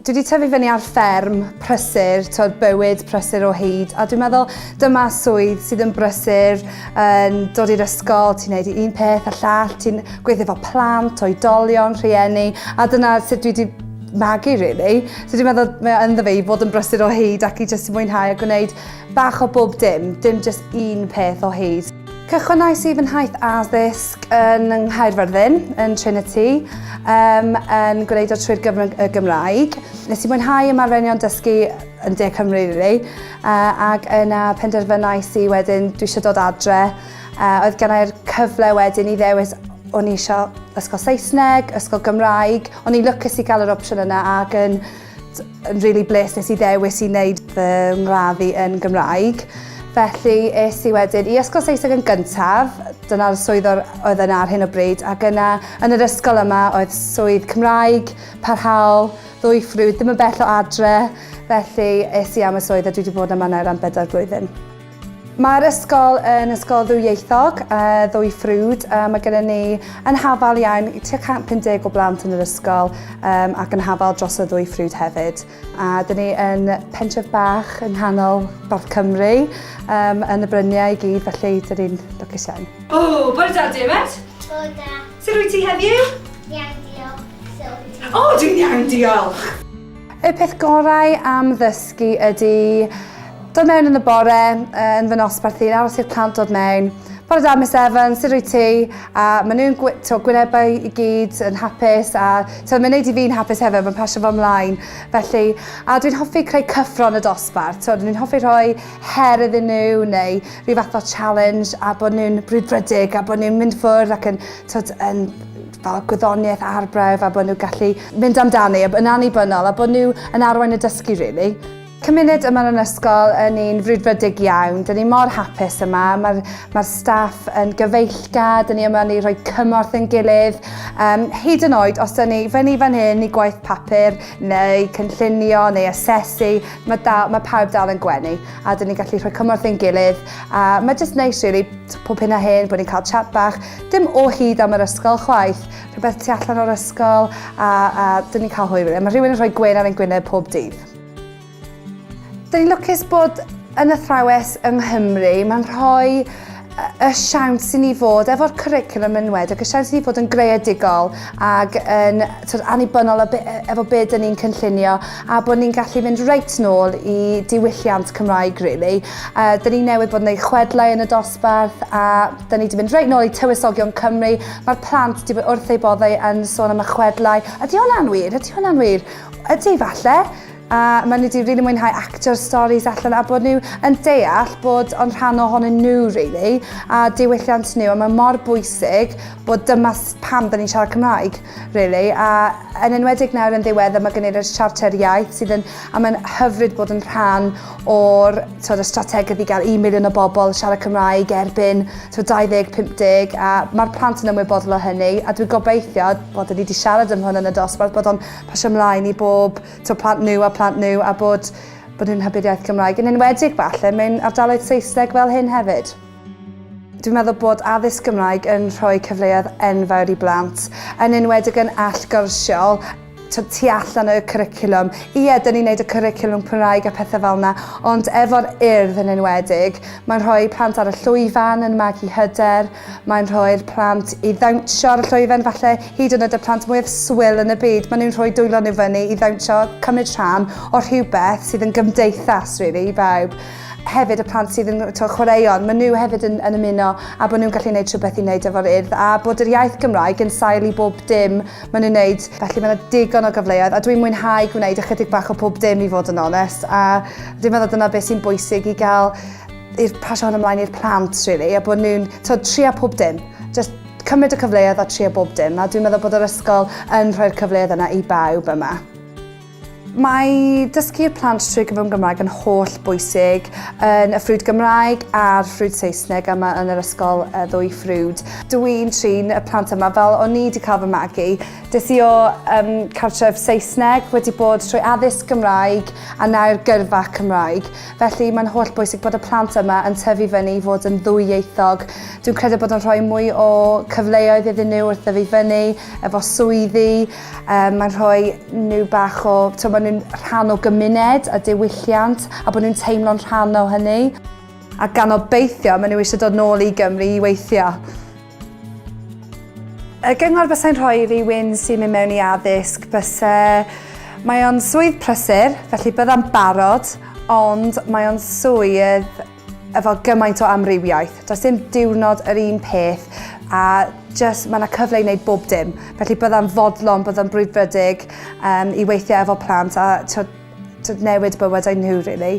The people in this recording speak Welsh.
Dwi wedi tyfu fyny ar fferm prysur, tywed, bywyd prysur o hyd, a dwi'n meddwl dyma swydd sydd yn brysur, yn dod i'r ysgol, ti'n neud un peth a llall, ti'n gweithio efo plant, oedolion, rhieni, a dyna sut dwi wedi magu really. So dwi'n meddwl mae ynddo fe i fod yn brysur o hyd ac i jyst mwynhau a gwneud bach o bob dim, dim jyst un peth o hyd. Cychwynais i fy nhaith addysg yn yng Nghaerfyrddin, yn Trinity, um, yn gwneud o trwy'r gyfrwng y Gymraeg. Nes i mwynhau ymarferion dysgu yn De Cymru, really, uh, ac yna penderfynais i wedyn dwi eisiau dod adre Uh, oedd gen i'r cyfle wedyn i ddewis o'n i eisiau ysgol Saesneg, ysgol Gymraeg, o'n i'n lwcus i gael yr opsiwn yna ac yn, yn really bles nes i ddewis i wneud fy ngraddu yn Gymraeg. Felly es i wedyn i ysgol Saesneg yn gyntaf, dyna'r swydd oedd yna ar hyn o bryd, ac yna yn yr ysgol yma oedd swydd Cymraeg, parhaol, ddwy ffrwyd, ddim yn bell o adre, felly es i am y swydd a dwi wedi bod yma nawr am bedair blwyddyn. Mae'r ysgol yn ysgol ddwyieithog, uh, ddwy ffrwd. Uh, mae gennym ni yn hafal iawn tua 150 o blant yn yr ysgol um, ac yn hafal dros y ddwy ffrwd hefyd. A dyn ni yn pentref bach yng nghanol North Cymru, um, yn y bryniau i gyd, felly dyn ni'n lwcus iawn. O, oh, bore da, Dermot. Bore da. Sut rwy ti heddiw? Iawn, diolch. O, oh, dwi'n iawn, diolch. Y peth gorau am ddysgu ydy dod mewn yn y bore, yn fy nosbarth i'n aros i'r plant dod mewn. Bore da, Miss Evans, sut rwy ti? A maen nhw'n gwy, to, gwynebau i gyd yn hapus a to, mae'n neud i fi'n hapus hefyd, mae'n pasio fo ymlaen. Felly, a dwi'n hoffi creu cyffron y dosbarth. To, dwi'n hoffi rhoi her iddyn nhw neu rhyw fath o challenge a bod nhw'n brwdfrydig a bod nhw'n mynd ffwrdd ac yn, to, yn fel gwyddoniaeth arbrawf a bod nhw'n gallu mynd amdani a yn annibynnol a bod nhw yn arwain y dysgu rili. Cymuned yma yn yr ysgol yn un frwdfrydig iawn, dyn ni mor hapus yma, mae'r mae'r staff yn gyfeillgar, dyn ni yma i rhoi cymorth yn gilydd, um, hyd yn oed os dyn ni fyny fan hyn i gwaith papur neu cynllunio neu asesu, mae, dal, mae pawb dal yn gwenu a dyn ni'n gallu rhoi cymorth yn gilydd a mae jyst neis really. Pob hyn a hyn, bod ni'n cael chat bach, dim o hyd am yr ysgol chwaith, rhywbeth tu allan o'r ysgol a, a dyn ni'n cael hwyl wedyn. Mae rhywun yn rhoi gwên ar ein gwyneb pob dydd. Dyn ni'n lwcus bod yn athrawes yng Nghymru, mae'n rhoi y siawns i ni fod efo'r curriculum yn wed ac y siawns i ni fod yn greadigol ac yn twyd, annibynnol efo beth dyn ni'n cynllunio a bod ni'n gallu mynd reit nôl i diwylliant Cymraeg, really. A dyn ni newydd bod yn ei chwedlau yn y dosbarth a dyn ni wedi mynd reit nôl i Tywysogion Cymru. Mae'r plant wedi bod wrth eu boddau yn sôn am y chwedlau. Ydy hwnna'n wir? Ydy hwnna'n wir? Ydy, falle. A maen nhw wedi rili really mwynhau actio'r storys allan a bod nhw yn deall bod o'n rhan ohonyn nhw, really, a diwylliant nhw. A mae mor bwysig bod dyma pam dyn ni'n siarad Cymraeg. Really, a yn enwedig nawr yn ddiweddar mae gen i'r siarter iaith sydd yn, a mae'n hyfryd bod yn rhan o'r tywed, y strategaeth i gael un miliwn o bobl siarad Cymraeg erbyn tywed, 2050 a mae'r plant yn ymwybodol o hynny a dwi'n gobeithio, bod ni wedi siarad am hwn yn y dosbarth, bod o'n pasio ymlaen i bob tywed, plant nhw a plant nhw a bod, bod nhw'n hybu'r iaith Gymraeg yn enwedig falle mewn ardaloedd Saesneg fel hyn hefyd. Dwi'n meddwl bod addysg Gymraeg yn rhoi cyfleoedd enfawr i blant, yn enwedig yn allgyrsiol, twyd, tu allan y cwricwlwm. Ie, dyn ni'n neud y cwricwlwm Cymraeg a pethau fel yna, ond efo'r Urdd yn enwedig, mae'n rhoi plant ar y llwyfan yn magu hyder, mae'n rhoi'r plant i ddawnsio ar y llwyfan falle, hyd yn oed y plant mwyaf swil yn y byd, maen nhw'n rhoi dwylo nhw fyny i ddawnsio, cymryd rhan, o rhywbeth sydd yn gymdeithas, really, i bawb. hefyd y plant sydd yn to, chwaraeon, maen nhw hefyd yn, yn ymuno a bod nhw'n gallu gwneud rhywbeth i wneud efo'r urdd a bod yr iaith Gymraeg yn sail i bob dim maen nhw'n wneud. Felly mae yna digon o gyfleoedd a dwi'n mwynhau gwneud ychydig bach o pob dim i fod yn onest a dwi'n meddwl dyna beth sy'n bwysig i gael i'r pasio hwn ymlaen i'r plant really, a bod nhw'n trio pob dim. Just cymryd y cyfleoedd a trio bob dim a dwi'n meddwl bod yr ysgol yn rhoi'r cyfleoedd yna i bawb yma. Mae dysgu'r plant trwy gyfrwng Gymraeg yn holl bwysig yn y ffrwd Gymraeg a'r ffrwd Saesneg yma yn yr ysgol y ddwy ffrwd. Dw i'n trin y plant yma fel o'n i wedi cael fy magu. Des i o um, cartref Saesneg, wedi bod trwy addysg Gymraeg a nawr gyrfa Cymraeg. Felly mae'n holl bwysig bod y plant yma yn tyfu fyny i fod yn ddwyieithog. Dwi'n credu bod yn rhoi mwy o cyfleoedd iddyn nhw wrth ddyfu fyny, efo swyddi, Um, mae'n rhoi nhw bach o, to, maen nhw'n rhan o gymuned a diwylliant a bod nhw'n teimlo'n rhan o hynny. A gan obeithio, maen nhw eisiau dod nôl i Gymru i weithio. Y gyngor bysau'n rhoi i rywun sy'n mynd mewn i addysg bysau Mae o'n swydd prysur, felly byddai'n barod, ond mae o'n swydd efo gymaint o amrywiaeth. Does dim diwrnod yr un peth a just mae yna cyfle i wneud bob dim. Felly byddai'n fodlon, byddai'n brwydfrydig um, i weithiau efo plant a tyd, tyd newid bywydau nhw, really.